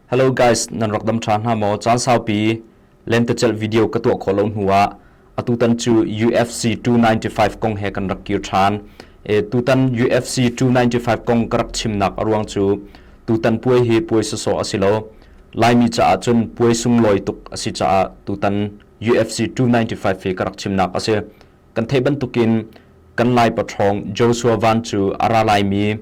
Hello guys, nan rak dam ṭha hna maw? Caan saupi lentecelh video ka tuah khawh lo hnu ah atutan cu UFC 295 kong he kan rak kir ṭhan. E, tutan UFC 295 kong ka rak chimnak a ruang cu tutan puai hi puai sawsawh a si lo. Laimi caah cun puai sunglawi tuk a si caah tutan UFC 295 hi ka rak chimnak a si. Kan theih bantukin kan lai paṭhawng Joshua Van cu a ra laimi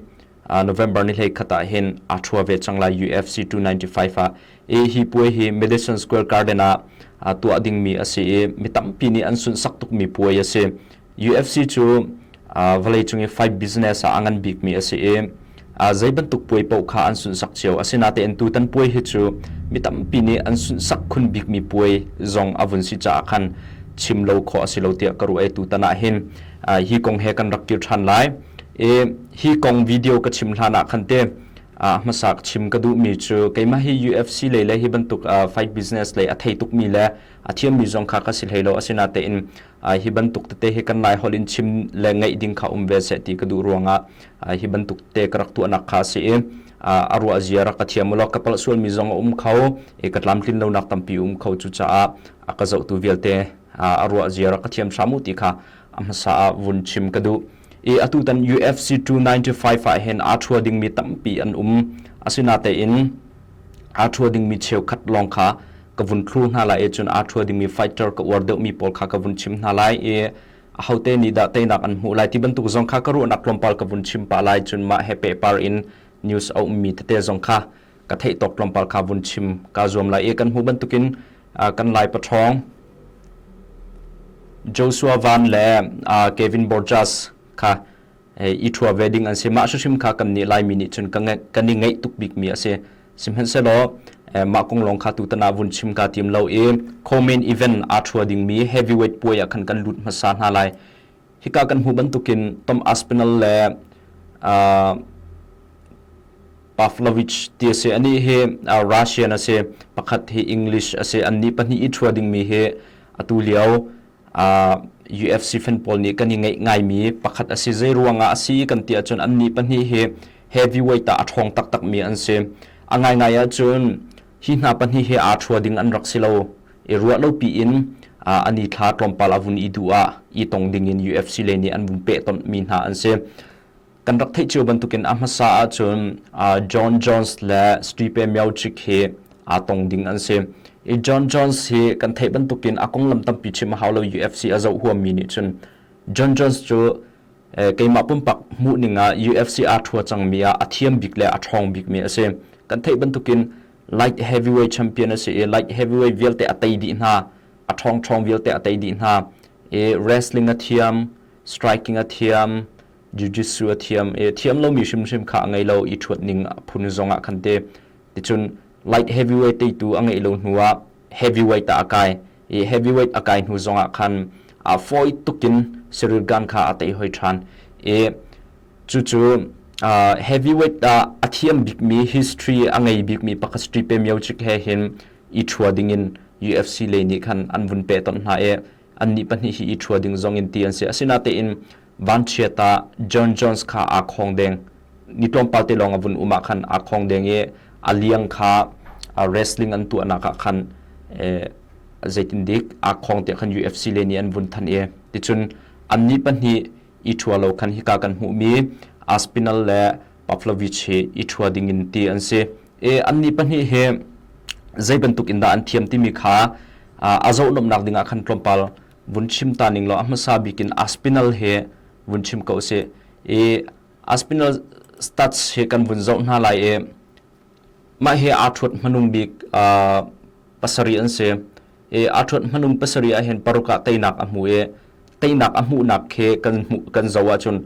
November ni hlei khat ah hin aa thua ve cang lai UFC 295 ah e hi puai hi Madison Square Garden ah tuah dingmi a si i mi tampi nih an sunsak tukmi puai a si UFC cu vawleicung i fight business ah a ngan bikmi a si i zei bantuk puai paoh kha an sunsak cio asinatein tutan puai hi cu mi tampi nih an sunsak khun bikmi puai zong a vun si caah khan chim lo khawh a si lo tiah ka ruah i tutan ah hin hi kong he kan rak kir ṭhan lai i hi kong video ka chim hlan ah khan te hmasa chim ka duhmi cu keimah hi UFC lei le hi bantuk fight business lei a thei tukmi le a thiammi zong kha ka si hlei lo asina tein hi bantuk tete hi kan lai hol in chim le ngaih ding kha um ve se ti ka duh ruangah hi bantuk te ka rak tuahnak kha si i a ruah zia rak ka thiam ulo ka palh sualmi zong a um kho i ka tlamtlin lo nak tampi um kho cu caah ka zohtu vialte a ruah zia rak ka thiam hramu ti kha a hmasa ah vun chim ka duh i atu tan UFC 295 ah hin aa thua dingmi tampi an um asinatein aa thua dingmi cheukhat lawng kha ka vun thlu hna lai e cun aa thua dingmi fighter ka uar deuhmi pawl kha ka vun chim hna lai i ahote nih dah teinak an hmuh lai ti bantuk zong kha ka ruahnak tlawmpal ka vun chim pah lai cun mah he pehpar in news a ummi tete zong kha ka theih tawk tlawmpal kha vun chim ka zuam lai e kan hmu bantukin kan lai pathawng Joshua Van le Kevin Borjas kha i thua ve ding an si mah hrim kha kan ni lai mi nih cun ka kan ni ngei tuk bik mi a si sihmanhsehlaw mah kong lawng kha tutana vun chim ka tim lo i comment event a thua ding mi heavyweight puai ah khan kan lut hmasa hna lai hika kan hmu bantukin Tom Aspinall le uh, Pavlovich ti a si ani hi uh, Russian a si pakhat hi English a si an ni pahnih i thua dingmi hi atu lio uh, UFC fan pawl nih kan i ngeih ngaimi pakhat a si zei ruangah a si kan ti ahcun an ni pahnih hi heavyweight ah a ṭhawng taktakmi an si a ngaingai ahcun hi hna pahnih hi aa thua ding an rak si lo i ruah lopi in an i thla tlawmpal a vun i duh ah i tong ding in UFC le nih an vun peh tonh mi hna an si kan rak theih cio bantukin a hmasa ahcun John Jones le Stipe Miocic hi aa tong ding an si i John Jones hi kan theih bantukin a konglam tampi chim a hau lo UFC a zoh huam mi nih cun John Jones cu keimah pumpak hmuh ning ah UFC aa thua cangmi ah a thiam bik le a ṭhawng bikmi a si kan theih bantukin light heavyweight champion a si i light heavyweight vialte a tei dih hna a ṭhawngṭhawng vialte a tei dih hna i wrestling a thiam striking a thiam jiu-jitsu a thiam i thiam lomi hrimhrim kha a ngei lo i ṭhuat ning a phun zong ah khan te ticun light heavyweight teitu a ngeih lo hnu ah heavyweight ah a kai i heavyweight a kai hnu zongah khan a fawi tukin Cyril Gane kha a tei hoi ṭhan i cucu uh, heavyweight ah a thiam bikmi history a ngei bikmi Pakastri Pemjicic he hin i ṭhua dingin UFC lei nih khan an vun pe ton hna i annih pahnih hi i ṭhua ding zong in ti an si asinatein vanchiat ah John Jones kha aa khawng deng ni tlawmpal te lawng a vun um ah khan aa khawng deng i a liang kha wrestling an tuahnak ah khan zeitindik aa khawng te khan UFC le nih an vun than e ticun an ni pahnih i thua lo khan hika kan hmu mi Aspinal le Pavlovich hi i thua ding in ti an si e an ni pahnih he zei bantuk in da an thiam timi kha a zo nom nak ding ah khan tlawmpal vun chim ta ning law a hmasa bik in aspinal he vun chim ko si i aspinal stats he kan vun zoh hna lai i mah he aa thuat hmanung bik pasari an si i aa thuat hmanung pasari ahhin paruk ah teinak a hmu i teinak a hmuhnak khi kan hmuh kan zo ahcun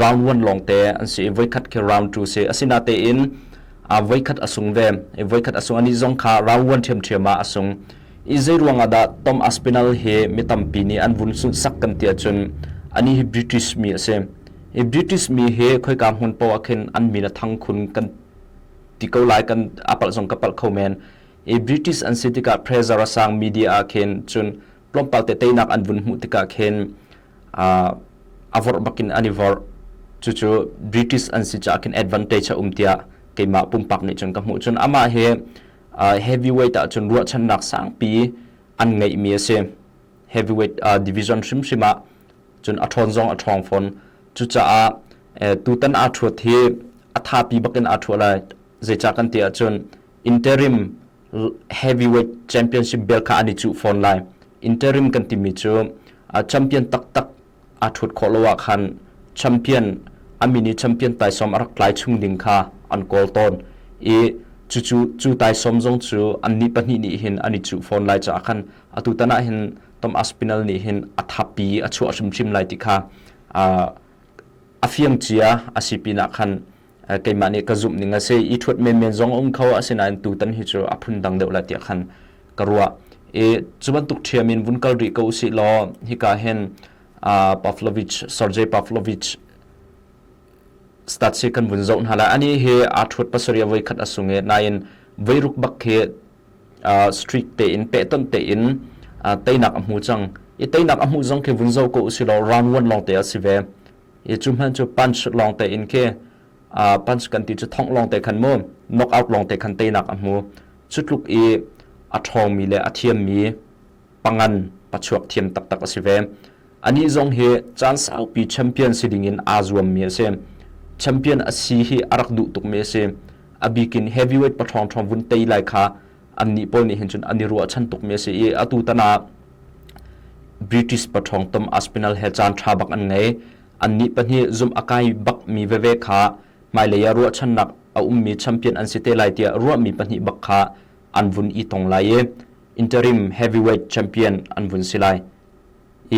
round one lawngte an si i voikhat khi round two si a sina tein a voikhat a sung ve i voikhat a sung ani zong kha round one ṭhiamṭhiam ah a sung i zei ruangah dah Tom Aspinall hi mi tampi nih an vun sunh sak kan ti ahcun ani hi British mi a si i British mi hi khoika hmun poah khin an min a thang khun kan ti ko lai kan a palh zong ka palh kho men i British an si tikah pressure a sang media ah khin cun tlawmpal te teinak an vun hmuh tikah khin a vorh bakin an i vorh cucu british an si caah khin advantage a um tiah keimah pumpak nih cun ka hmuh cun amah hi heavyweight ah cun ruahchannak sangpi an ngeihmi a si heavyweight division hrimhrim ah cun a ṭhawn zong a ṭhawng fawn cucaah tutan aa ṭhuat hi a thapi bakin aa ṭhuat lai zeicah kan ti ahcun interim heavyweight championship bel kha an i cuh fawn lai interim kan timi cu champion taktak a thut khawh lo ah khan champion a mini champion taisawm a rak tlai chung ding kha an kawl tawn i cucu cu taisawm zong cu an ni pahnih nih hin an i cuh fawn lai caah khan atu tanah hin tom aspinal nih hin a thapi a chuah hrimhrim lai ti kha a fiang cia a si pinah khan keimah nih ka zumh ning a si i ṭhuat menmen zong a um kho asinain tutan hi cu a phundang deuh la tiah khan ka ruah i cu bantuk ṭhiam in vun kal rih ko usih law hika hin Pavlovich Sergei Pavlovich stats hi kan vun zoh hna la ani hi aa ṭhuat pasarih voi khat a sung e nain voi ruk bak hi strict tein pehtonh tein teinak a hmu cang i teinak a hmuh zong khi vun zo ko usih law round one lawng te a si ve i cu hmanh cu punch lawng te in khi uh, punch kan ti cu thongh lawng te khan mu knock out lawng te khan teinak a hmu cu tluk i a ṭhawngmi le a thiammi pangan pachuak thiam taktak a si ve anih zong hi caan saupi champion si ding in aa zuammi a si champion a si hi a rak duh tukmi a si a bikin heavyweight pathrawng thrawng vun tei lai kha annih pawl nih hin cun an i ruahchan tukmi a si i atu tanak British pathawng tom Aspinall he caan tha bak an ngei annih pahnih zumh a kai bakmi veve kha hmailei ah ruahchannak a ummi champion an si te lai tiah ruahmi pahnih bak kha an vun i tong lai i interim heavyweight champion an vun si lai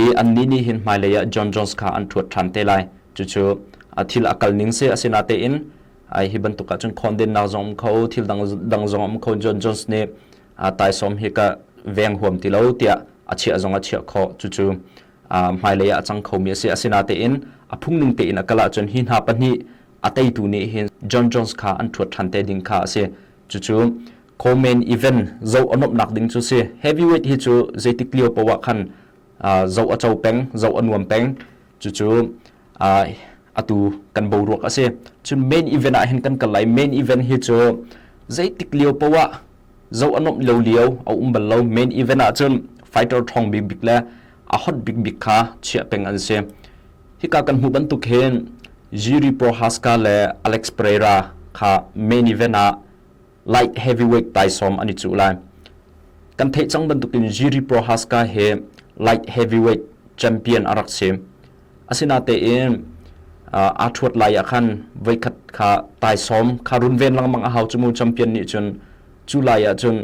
i annih nih hin hmailei ah John Jones kha an thuat than te lai cucu a thil a kal ning se asina tein ai hi bantuk ahcun khondennak zong um kho thil dang dang zong um kho John Jones nih taisawm hi ka veng huam ti lo tiah a chiah zong a chiah kho cucu hmailei ah a cang khomi a si asinatein a phungning tein a kal ahcun hi hna pahnih a teitu nih hin John Jones kha an thuat than te ding kha a si cucu komen event zo anawpnak ding cu si heavyweight hi cu zeitik lio poah khan zo a cho peng zo a nuam peng Cucu uh, atu kan boruak a si. Cu main event ah hin kan kal lai. Main event hi cu zeitik lio poah zo anom lo lio a um bal lo. Main event ah cun fighter thong big big le a hot big big kha chia peng an si. Hi ka kan hmu bantuk hin Jiri Prohaska le Alex Pereira kha main event ah light heavyweight taisawm an i cuh lai kan theih cang bantukin Jiri Prohaska hi light heavyweight champion a rak si asinatein aa ṭhuat lai ah khan voikhat kha taisawm kha runven lengmang a hau cu mu champion nih cun cu lai ah cun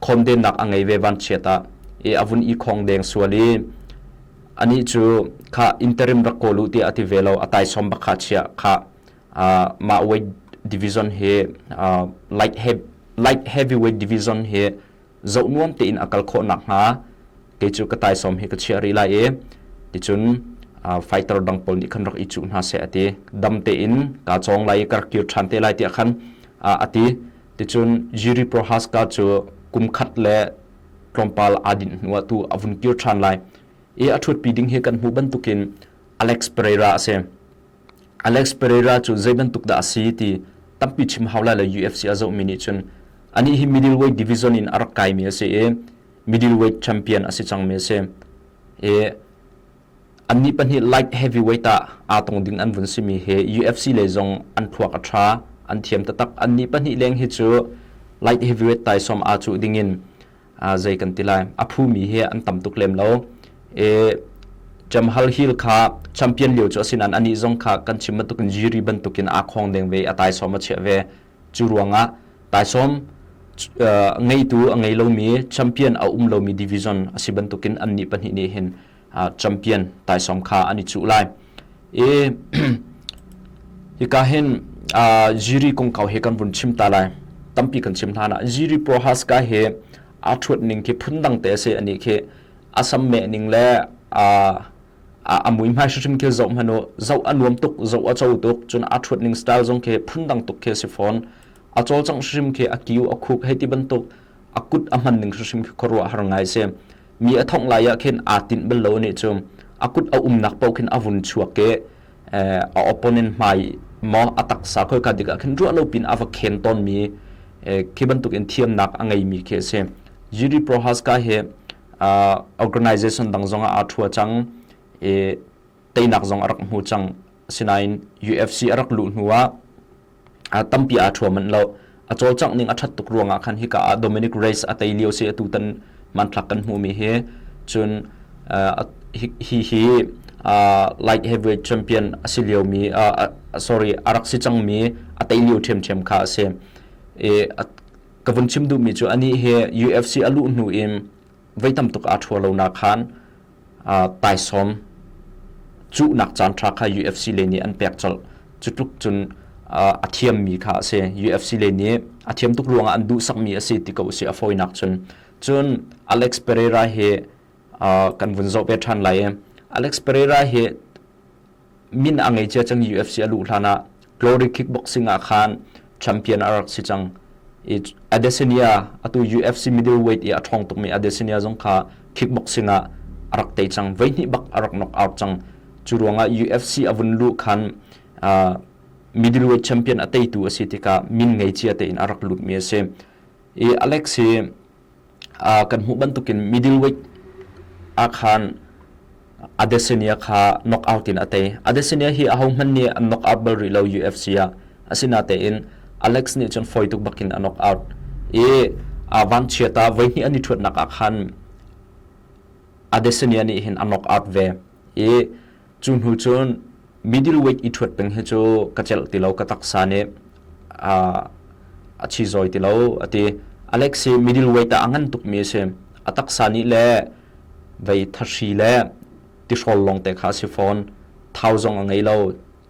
khawmdennak a ngei ve van chiat ah e a vun i khong deng sual i ani cu kha interim rak kawl u tiah a ti ve lo a taisawm bak kha chia kha mahweight division hi light heavy light heavyweight division hi zoh nuam tein a kal khawh nak hnga kei cu ka tai som hi ka chia ri lai i ticun fighter dang pol nih khan rak i cuh hna se ati dam te in ka chong lai ka kir than te lai ti khan ati ticun jiri prohaska chu kum khat le tlompal adin nuwa tu avun kir than lai e athut pi ding hi kan mu bantukin alex pereira ase Alex Pereira cu zei bantuk dah a si ti tampi chim hau lai le UFC a zohmi nih cun anih hi middleweight division in a rak kaimi a si i middleweight champion a si cangmi a si. I annih pahnih light heavyweight ah aa tong ding an vun simi hi UFC lei zong an thluak a ṭha an thiam taktak annih pahnih leng hi cu light heavyweight taisawm aa cuh dingin zei kan ti lai a phumi hi an tam tuk lem lo e Jam Hal Hill kha champion lio cu asinan ani zong kha kan chim bantukin Jiri bantukin a khong deng ve a taisawm a chiah ve cu ruangah taisawm ngeitu a ngei lomi champion a um lomi division asi bantukin anni pahnih nih hin champion taisawm kha an i cuh lai i hika hin ziri kongkau he kan vun chim ta lai tampi kan chim hna na ziri pohas ka he a thuat ning khi phun dang te se ani khi asam me ning le a a mui mai hrim khi zo hanu zo anuam tuk zo a chau tuk chun a thuat ning style zong khi phun dang tuk khi si phone a chol chang hrim khi a kiu a khuk hei ti bantuk a kut a man ning hrim khi khorwa har ngai se Mi a thongh lai ah khin aa tinh bal lo nih cu a kut a umnak paoh khin a vun chuak ke a opponent hmai maw a taksa khoi ka dik ah khin ruah lo pin a va khen ton mi khi bantuk in thiamnak a ngei mi khi a si Yuri Prohaska he organization dang zong ah aa thua cang i teinak zong a rak hmu cang asinain UFC a rak luh hnu ah a tampi aa thuam manh lo a cawlcangh ning a that tuk ruangah khan hika ah Dominic Reyes a tei lio se atu tan manthlak kan hmu mi hi cun uh, hi hi uh, light heavyweight champion a si lio mi uh, sorry a rak si cang mi a tei lio them them kha a si e ka vun chim duh mi chu ani he UFC a luh hnu im voi tam tuk aa ṭhua lonak khan taisawm cuhnak caanṭha kha UFC le nih an pek colh. Cu tluk cun a thiammi kha a si. UFC le nih a thiam tuk ruangah an duhsakmi a si ti ko a si a fawinak cun. Cun Alex Pereira hi kan vun zoh ve ṭhan lai i Alex Pereira hi min a ngei cia cang UFC a luh hlan ah glory kickboxing ah khan champion a rak si cang i Adesanya atu UFC middleweight i a ṭhawng tukmi Adesanya zong kha kickboxing ah a rak tei cang voi hnih bak a rak knock out cang cu ruangah UFC a vun luh khan uh, middleweight champion a teitu a si tikah min ngei cia tein a rak lutmi a si i Alex hi uh, kan hmuh bantukin middleweight a khan Adesanya kha knock out in ate Adesanya hi a hohman ni an knock out bal rih lo UFC a asina tein Alex nih cun foi tuk bakin a knock out i uh, van chiata voi ni ani thuat nak a khan Adesanya nih hin a knock out ve i Cu hnu cun middleweight i ṭhuat peng hi cu ka celh ti lo, ka taksa nih a, a chizoi ti lo, a ti. Alex hi middleweight ah a ngan tukmi a si. A taksa nih le vei thahri le tihrawl lawngte kha a si fawn. Thau zong a ngei lo.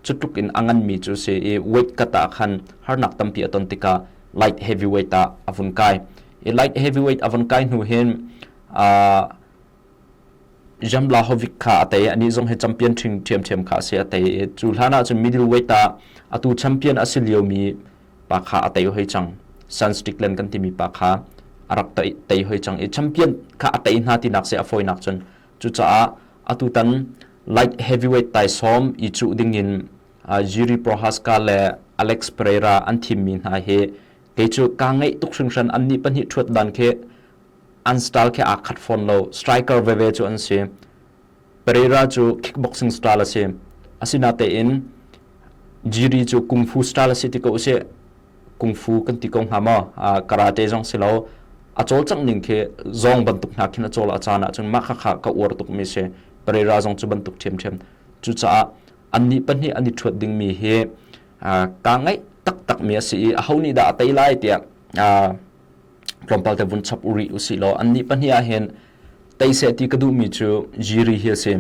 Cutluk in a nganmi cu a si i weight kat ah khan harnak tampi a ton tikah light heavyweight ah a vun kai. I light heavyweight a vun kai hnu hin, aa, Jamlahovic kha a tei. Anih zong hi champion ṭhiamṭhiam kha a si a tei. Cu hlan ahcun middleweight ah atu champion a si liomi pa kha a tei hoi cang. San Strickland kan timi pa kha a rak tei hoi cang i champion kha a tei hna tinak se a fawinak cun cucaah atu tan light heavyweight taisawm i cuh dingin Jiri Prochazka le Alex Pereira an thimmi hna hi kei cu kaa ngeih tuk hringhran annih pahnih ṭhuat dan khi an style khi aa khat fawn lo striker veve cu an si Pereira cu kickboxing style a si asina tein Jiri cu kung fu style a si ti ko si kung fu kan ti ko hnga ma karate zong si lo a col cang ning khi zong bantuk hna khin a col a caan ahcun mah kha kha ka uar tuk mi si Pereira zong cu bantuk thiam thiam cu caah an ni pahnih an i thuat ding mi hi ka ngai tak tak mi a si i a ho nih dah a tei lai tiah tlawmpal te vun chap u rih usih law annih pahnih ah hin teiseh ti ka duhmi cu jiri hi a si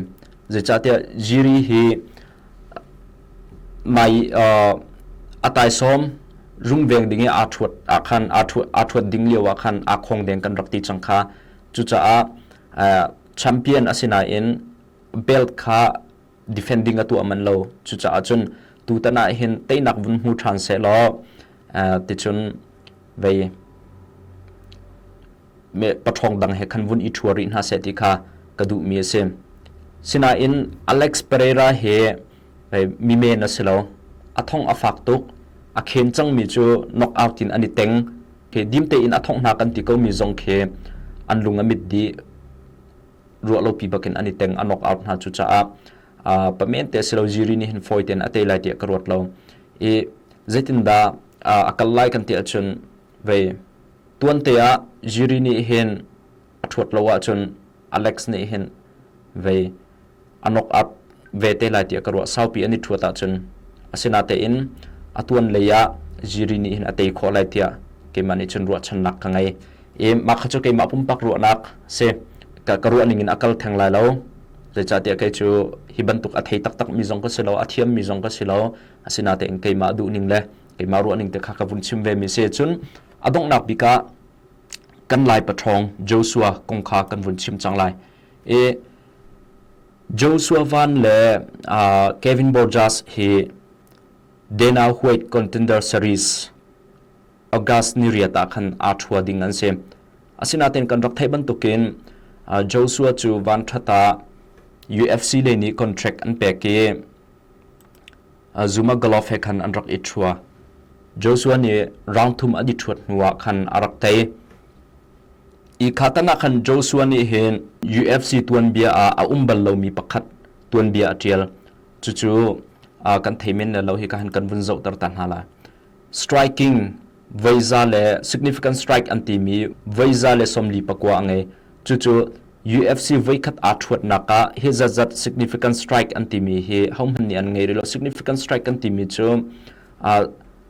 zeicahtiah jiri hi mai uh, ataisawm rungveng ding i aa thuat aa khan aa thuat aa thuat ding lio ah khan aa khong deng kan rak ti cang kha cucaah uh, champion asinain belt kha defending a tuah man lo cucaah cun tutan ah hin teinak vun hmu ṭhan se law ticun vei me paṭhawng dang he khan vun i ṭhua rih hna se ti kha ka duh mi a si sinain Alex Pereira he mi men a si lo a thong a fak tuk a khen cang mi cu knock out in an i teng ke dimte in a thonghna kan ti ko mi zong khi an lung a mit di ruah lopi bakin an i teng a nok out hna cu caah uh, pamen te silo ziri ni hin foi ten ate lai ti ka ruat lo i zeitin da uh, akal lai kan ti achun ve tuan te a ziri ni hin thuat lo a chun alex ni hin ve a nok up ve te lai tiah ka ruah saupi an i thuat ahcun asinatein atuan lei ah jiri nih hin a tei khawh lai tiah keimah nih cun ruahchannak ka ngei i mah kha cu keimah pumpak ruahnak si ka, ka ruah ning in a kal theng lai lo zeicahtiah kei cu hi bantuk a thei taktak mi zong ka si lo a thiam mi zong ka si lo asinatein keimah duh ning le keimah ruah ning te kha ka vun chim ve mi si cun a donghnak bik ah kan lai pathawng Joshua kong kha kan vun chim cang lai i Joshua Van le Kevin Borjas hi Dana White contender series August ni riat ah khan aa ṭhua ding an si. Asinain kan rak theih bantukin Joshua cu van ṭhat ah UFC le nih contract an pek i zumagalof he khan an rak i ṭhua. Joshua nih rang thum an i ṭhuat hnuah khan a rak tei. Hi kha tanah khan Joshua nih hin UFC tuanbia ah a um bal lomi pakhat tuanbia a ṭial. Cucu kan thei men le lo hi ka han kan vun zohter ta hna lai. Striking, voiza le significant strike an timi voiza le sawmli pakua a ngei. Cucu UFC voikhat aa ṭhuatnak ah hi zatzat significant strike an timi hi hohmanh nih an ngei rih lo. Significant strike kan timi cu uh,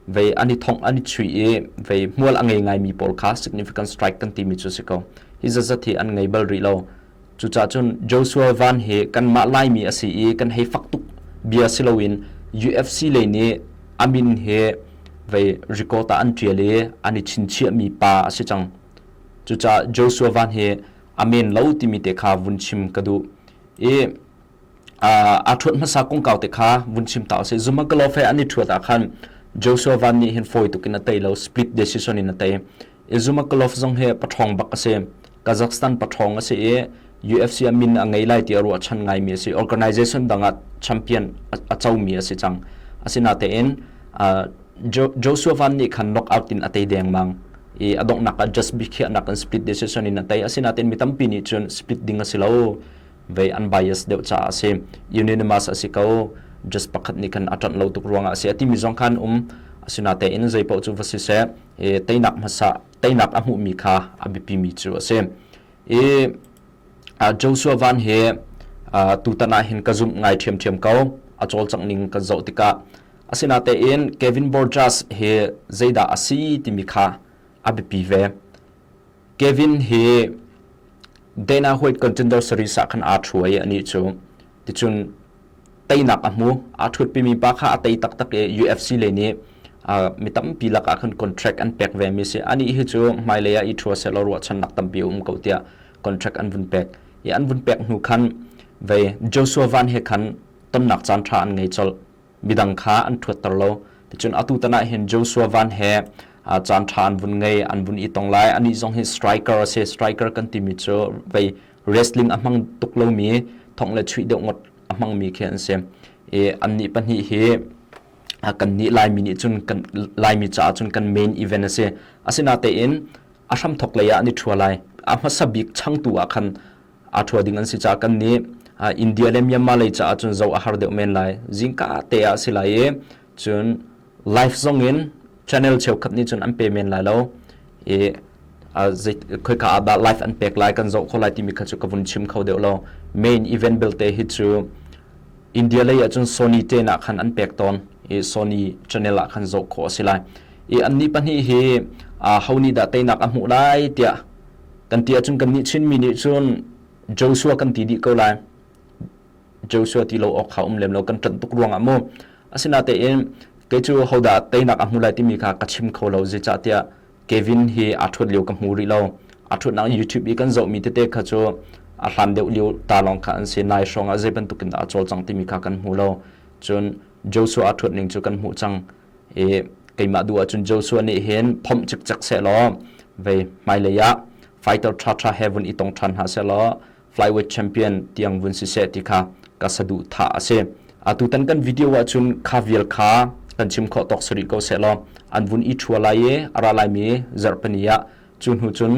vei an i thongh an i chui i vei hmual a ngei ngaimi pawl kha significant strike kan timi cu si ko. Hi zatzat hi an ngei bal rih lo. Cucahcun Joshua van hi kanmah Laimi a si i kan hei fak tuk bia si loin UFC lei nih a min hi vei record ah an ṭial i an i chinchiahmi pa a si cang. Cucaah Joshua van hi a men lo timi te kha vun chim ka duh i a ṭhuat hmasa kongkau te kha vun chim ta usih zumagalof he an i ṭhuat ah khan Joshua van nih hin fawi tukin a tei lo split decision in a tei i Zumagalof zong he paṭhawng bak a si Kazakhstan paṭhawng a si i UFC a min a ngei lai ti a ruahchan ngaimi a si organization dang ah champion a comi a si cang asinatein Joshua van nih khan knockout in a tei dengmang i a donghnak ah just bikhiahnak in split decision in a tei asinatein mi tampi nih cun split ding a si lo vei an bias deuh caah a si unanimous a si ko just pakhat nih khan a ṭanh lo tuk ruangah a si a timi zong khan um asinatein zeipaoh cu va siseh i teinak hmasa teinak a hmuhmi kha a biapimi cu a si i Joshua van hi tutan ah hin ka zumh ngai ṭhiamṭhiam ko a cawlcangh ning kan zoh tikah asinatein Kevin Borjas hi zeidah a si timi kha a biapi ve Kevin hi Dana huait kan gender series ah khan aa ṭhu i anih cu ticun teinak a hmu. Aa ṭhutpimi pa kha a tei taktak i UFC le nih uh, mi tampi lakah khan contract an pek vemi si. Anih hi cu hmailei ah i ṭhu sehlaw ruahchannak tampi a um ko tiah contract an vun pek. I an vun pek hnu khan vei Joshua Van he khan tonnak caan ṭha an ngei colh. midang kha an ṭhuatter lo. Ticun atu tan ah hin Joshua Van he caan ṭha an vun ngei, an vun i tong lai. Anih zong hi striker a si. Striker kan timi cu vei wrestling a hmang tuk lomi, thongh le chuih deuh ngawt a hmangmi khi an si. I annih pahnih hi kan nih Laimi nih cun kan Laimi caah cun kan main event a si. Asinatein a hramthok lei ah an i ṭhua lai. A hmasa bik changtu ah khan a ṭhua ding an si caah kan nih India le Myanmar lei caah cun zoh a har deuh men lai zingka te ah a si lai i cun live zong in channel cheukhat nih cun an pe men lai lo i khoika ah dah live an pek lai kan zoh kho lai timi kha cu ka vun chim kho deuh lo main event belte hi cu India lei ah cun Sony te nak khan an pek tawn i Sony channel ah khan zoh kho a si lai i anni pahnih hi ho nih dah teinak a hmuh lai tiah Kan ti ahcun kannih Chinmi nih cun Joshua kan ti dih ko lai. Joshua ti lo awk kha um lem lo kan ṭanh tuk ruangah mu. Asinatein kei cu hodah teinak a hmu lai timi kha ka chim kho lo zeicahtiah Kevin hi aa ṭhuat lio ka hmu rih lo. A ṭhutnak YouTube i kan zohmi tete kha cu a hlan deuh lio ta lawng kha an si. Nai hrawngah zei bantukin dah a cawlcang timi kha kan hmu lo. Cun Joshua a ṭhuat ning cu kan hmuh cang. i keimah duh ahcun Joshua nih hin phomh cikcek seh law vei hmailei ah fighter ṭhaṭha he vun i tong ṭhan hna seh law flyweight champion tiang vun si seh ti kha ka saduhthah a si atu tan kan video ahcun kha vial kha kan chim khawh tawk sarih ko seh law an vun i ṭhua lai i a ra lai mi zarhpani ah cu hnu cun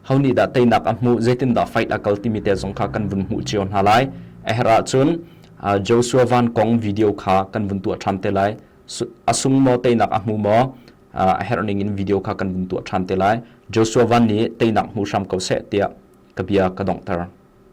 honi dah teinak a hmuh zeitin dah fight a kal timi te zong kha kan vun hmuh cio hna lai a her ahcun Joshua Van Kong video kha kan vun tuah ṭhan te lai a sung maw teinak a hmu maw a herh ning in video kha kan vun tuah ṭhan te lai Joshua Van nih teinak hmu hram ko seh tiah ka bia ka donghter.